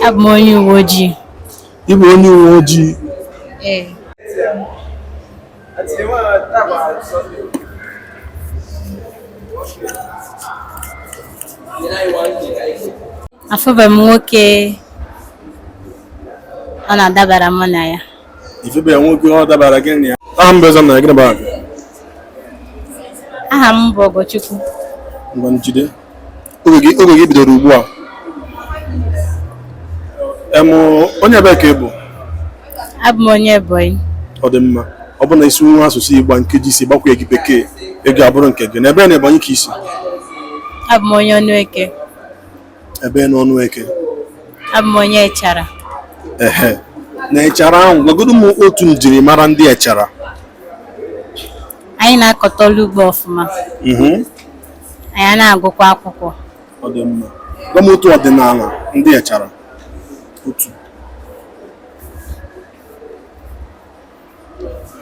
Abụ m onye uwe ojii. Ị bụ onye uwe ojii? Ee. Afụbeghị m nwoke ọ na-adabara mụ na ya. Ịfụbeghị nwoke ọ dabara gị na ya? Aha m bụ Ezam na gịnị bụ aha gị? Aha m bụ Ogochukwu. Ngwa jide. oge gị oge gị bidoro ugbu a em onye ebee ka ị bụ abụ m onye Ebonyi ọ dị mma ọ bụ na ị sụwa asụsụ Igbo a nkeji isii ịgbakwunyeghị bekee ego abụrụ nke gị na ebee na Ebonyi ka i si abụ m onye Ọnụeke ebee na Ọnụeke abụ m onye Echara ehe na Echara ahụ gwagodo m otu njirimara ndị Echara anyị na-akọta ọrụ ugbo ọfụma Mhm. anyị ana-agụkwa akwụkwọ Ọ dị mma. Gwa m otu ọdịnala ndị Echara. Otu.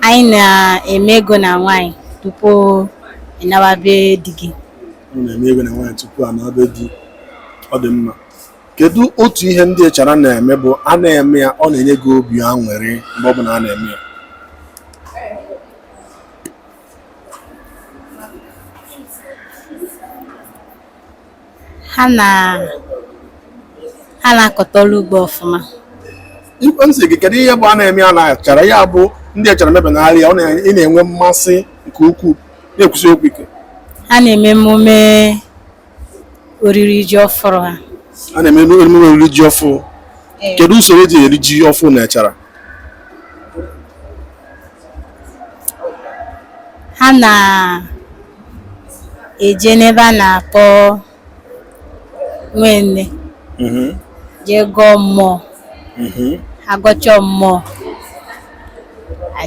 anyị na-eme ego na nwaanyị tupu ị nawa be di gị Ọ na-eme ego na nwaanyị tupu a naa be di. Ọ dị mma. Kedu otu ihe ndị Echara na-eme bụ a na-eme ya ọ na-enye gị obi aṅụrị mgbe ọ bụla a na-eme ya? ha na ha na-akọta ọrụ ugbo ọfụma Ife m sị gị kedu ihe bụ a na-eme ya na Echara ya bụ ndị Echara mebe na arịa ọ na- ị na-enwe mmasị nke ukwuu na-ekwusi okwu ike ha na-eme emume oriri ji ọfụrụ ha a na-eme emume oriri ji ọfụrụ Ee. kedu usoro e ji eri ji ọfụrụ na Echara ha na-eje n'ebe a na-akpọ nwenne jee gọọ mmụọ a gọchaa mmụọ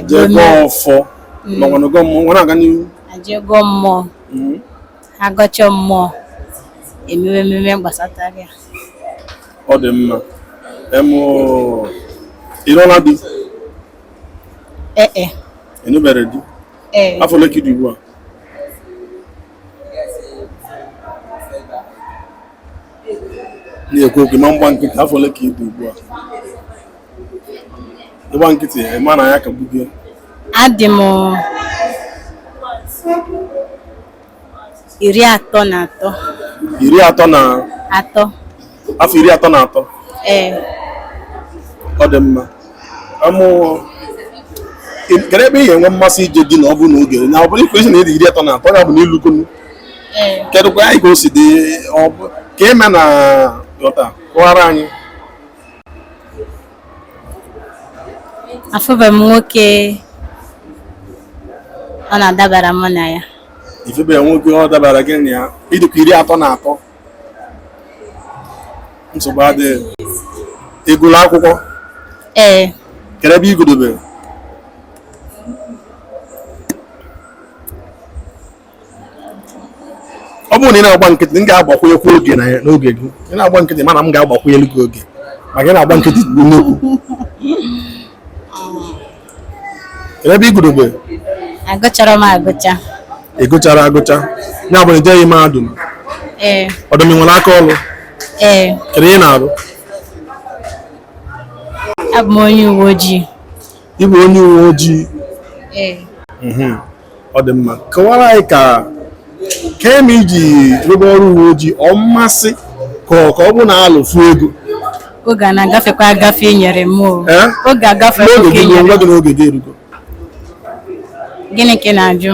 jee gọọ ọfọ makwanụ gọọ mmụọ ngwa na-aga n'ihu e jee gọọ mmụọ a gọchaa mmụọ e mewe ememe gbasatara ya ọ dị mma em ị nụọla di ee e ị nụberọ di ee afọ ole ka ị dị ugbu a na-ekwu okwu ma mgba nkịtị afọ ole ka ị dị ugbu a ịgba nkịtị ya ịma na ya ka gbugie adị m iri atọ na atọ iri atọ na atọ afọ iri atọ na atọ ee ọ dị mma amụ kedu ebe ị ga-enwe mmasị ije di na ọ bụrụ na oge na ọ bụrụ i kwusi na ị dị iri atọ na atọ ya bụ na i lugonu ee kedụkwa anyị ka o si dị ọ bụ- ka eme na ghọta kọwara anyị afụbeghị m nwoke ọ na-adabara mụ na ya ị fụbeghị nwoke ọ dabara gị na ya ị dịkwa iri atọ na atọ nsogbu adịghị ị gụlụ akwụkwọ ee kedu ebe ị gụdebere ọ bụrụ na ị na-agba nkịtị m ga-agbakwunyekwu oge n'oge gị ị na-agba nkịtị mana m ga-agbakwunyelu gị oge maka ị na-agba nkịtị kwuo kedu ebe ị gụdebe agụchara m agụcha ị gụchara agụcha ya bụ na i jeghị mahadum ee ọ dị mma ị nwere aka ọrụ ee kedu ihe ị na-arụ abụ m onye uwe ojii ị bụ onye uwe ojii ee mhm. ọ dị mma kọwara anyị ka kee ihe i ji rụba ọrụ uwe ojii ọ mmasị ka ọ ka ọ bụ na alụfu ego oge a na-agafekwa agafe e nyere m o Eh? oge agafe n'oge oge gị eruo nyere nwa m. gị n'oge gị erugo gịnị ka ị na-ajụ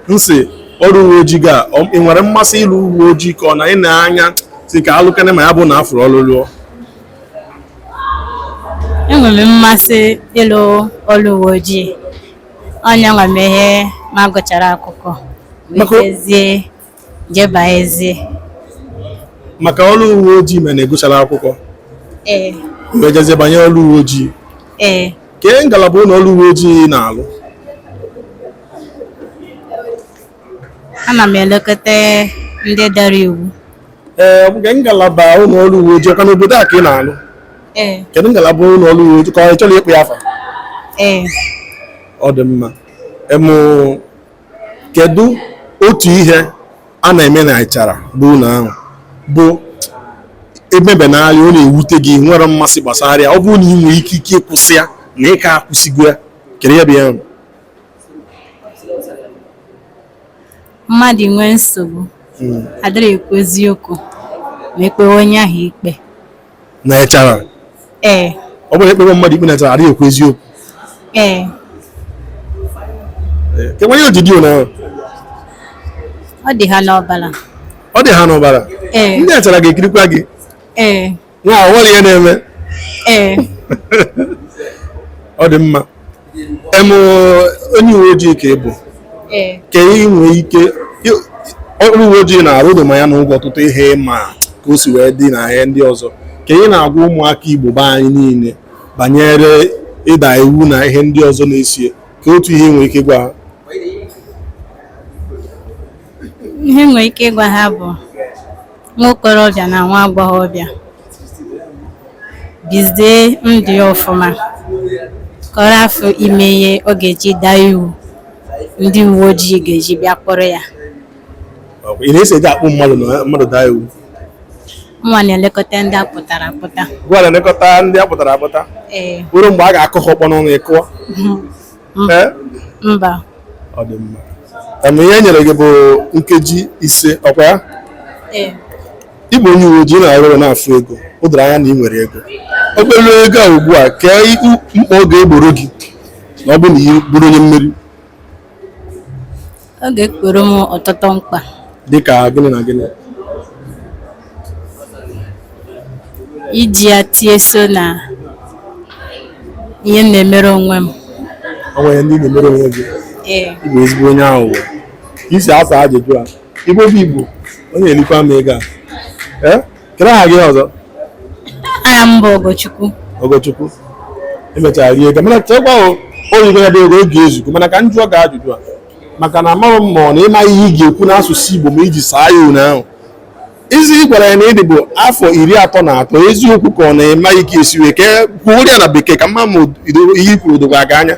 m sị ọrụ uwe ojii ga ọ- ị nwere mmasị ịlụ uwe ojii ka ọ na ị na-anya sị ka a lụkene ma ya bụ na a fụrụ ọrụ lụọ enwere m mmasị ịlụ ọrụ uwe ojii onye nwa mehe m gụchara akwụkwọ Maka- wetezie jebazie maka ọrụ uwe ojii mana ị gụchara akwụkwọ ee wee jezie banye ọrụ uwe ojii ee kee ngalaba ụlọ ọrụ uwe ojii ị na-alụ ana m elekọta ndị dara iwu ee ọ bụ kedu ngalaba ụlọ ọrụ uwe ojii ọ kwa n'obodo a ka ị na-alụ ee kedu ngalaba ụlọ ọrụ uwe ojii ka ị chọrọ ịkpọ ya afa ee ọ dị mma emụ kedu otu ihe a na-eme na echara bụ ụlọ ahụ bụ emebenarị ọ na-ewute gị nwere mmasị gbasara ya ọ bụrụ na ị nwere ike ike ịkwụsị ya na ị ka-akwụsịgo ya kedu ihe bụ ya bụ mmadụ nwee nsogbu hmm. adịrị ekwu eziokwu ma e kpewe onye ahụ ikpe na echara ee ọ bụrụ e kpewe mmadụ ikpe na echara adịghị ekwu eziokwu ee kekwanụ ihe o ji dị otu ahụ ọ dị ha n'ọbara ọ dị ha n'ọbara ee ndị echara ga-ekirikwa gị ee nwa ahụ nwere ihe ọ na-eme ee ọ dị mma em onye uwe ojii ka ị bụ ee kee ihe ị nwee ike ị- ọrụ uwe ojii ị na-arụ o doo m anya na ị hụgo ọtụtụ ihe ị ma ka o si wee dị na ihe ndị ọzọ kee ihe ị na-agwa ụmụaka igbo be anyị niile banyere ịda iwu na ihe ndị ọzọ na-eso ya kee otu ihe i nwere ike ịgwa ha ihe m nwere ike ịgwa ha bụ nwa okorobịa na nwa agbọghọbịa bizie ndụ ya ọfụma ka ọ rafụ ime ihe ọ ga-eji daa iwu ndị uwe ojii ga-eji bịa kpọrọ ya Ọkwa ị na-esi eji akpụ mmadụ na mmadụ daa iwu nwa na-elekọta ndị a kpụtara akpụta gwa na-elekọta ndị a kpụtara akpụta ee ruo mgbe a ga-akụ ha ọkpọ n'ọnụ ịkụọ Ee? mba ọ dị mma Em, ihe e nyere gị bụ nkeji ise ọkwa ya ee ị bụ onye uwe ojii na-arụ ọrụ na-afụ ego o doro anya na ị nwere ego obere ego a ugbu a kee ihe mkpa ọ ga-egboro gị na ọ bụ na ị bụrụ onye mmeri Ọ ga-egboro m ọtụtụ mkpa. Dịka gịnị na gịnị? Iji ya tie so na ihe m na-emere onwe m. O nwere ndị ị na-emere onwe gị? Ee. Ị bụ ezigbo onye aghụghọ. Ka i si asa ajụjụ a, Igbo bụ Igbo, ọ na-erikwa m ego a. Ee? Kedu aha gị ọzọ? Aha m bụ Ogochukwu. Ogochukwu. I mechara rie ego mana chekwa o oyibo ya bụ ego oge ezugo mana ka m jụọ gị ajụjụ a maka na amaghị m ma ọ na ị ma ihe ị ga-ekwu n'asụsụ Igbo ma iji saa ya unu ahụ izi ị gwara ya na ị dị bụ afọ iri atọ na atọ eziokwu ka ọ na ị maghị ka e si wee ka kwuo ya na bekee ka m ma ma ihe i kwuru o dokwa gị anya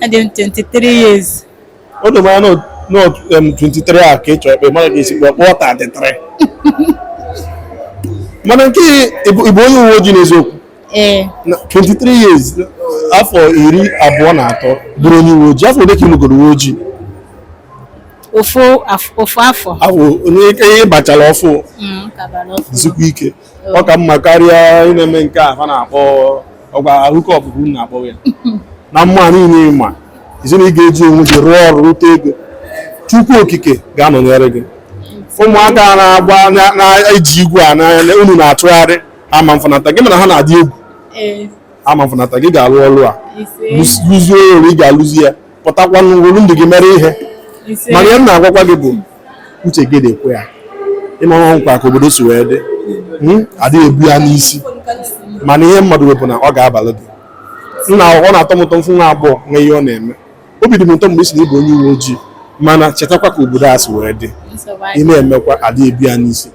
Adị m 23 years. O doro m anya na ọ- em, 23 a ka ị chọrọ ịkpọ mana ka esi kpọọ kpọọ 33 mana nke ị bụ ị bụ onye uwe ojii n'eziokwu Ee, Na 23 years afọ iri abụọ na atọ bụrụ onye uwe ojii afọ ole ka ị lụgoro uwe ojii ofu af- ofu afọ. afọ onye ike ihe bachara ọfụ Mm, ka bara ọfụ. jisikwa ike ọ ka mma karịa ị na-eme nke a ha na-akpọ ọkwa hookup unu na-akpọ ya na mma niile ma ị sị na ị ga-eji onwe gị rụọ ọrụ rute ego chukwu okike ga-anọnyere gị ụmụaka na-agba na-eji igwe a n'anya unu na-achụgharị ama mfanata gị mana ha na-adị egwu ama mfanata gị ị ga-alụ ọrụ a lụzie ọrụ ị ga-alụzi ya pụtakwa were ndụ gị mere ihe mana ihe m na-agwakwa gị bụ uche gị dịkwa ya ị maranụkwa ka obodo si wee dị hmm? adịghị ebu ya n'isi mana ihe mmadụ wepụ na ọ ga-abalị gị nna ọ na-atọ m ụtọ m fụ nwa agbọọ nwe ihe ọ na-eme obi dị m ụtọ mgbe ị sị na ị bụ onye uwe ojii mana chetakwa ka obodo a si wee dị ị na-emekwa adịghị ebu ya n'isi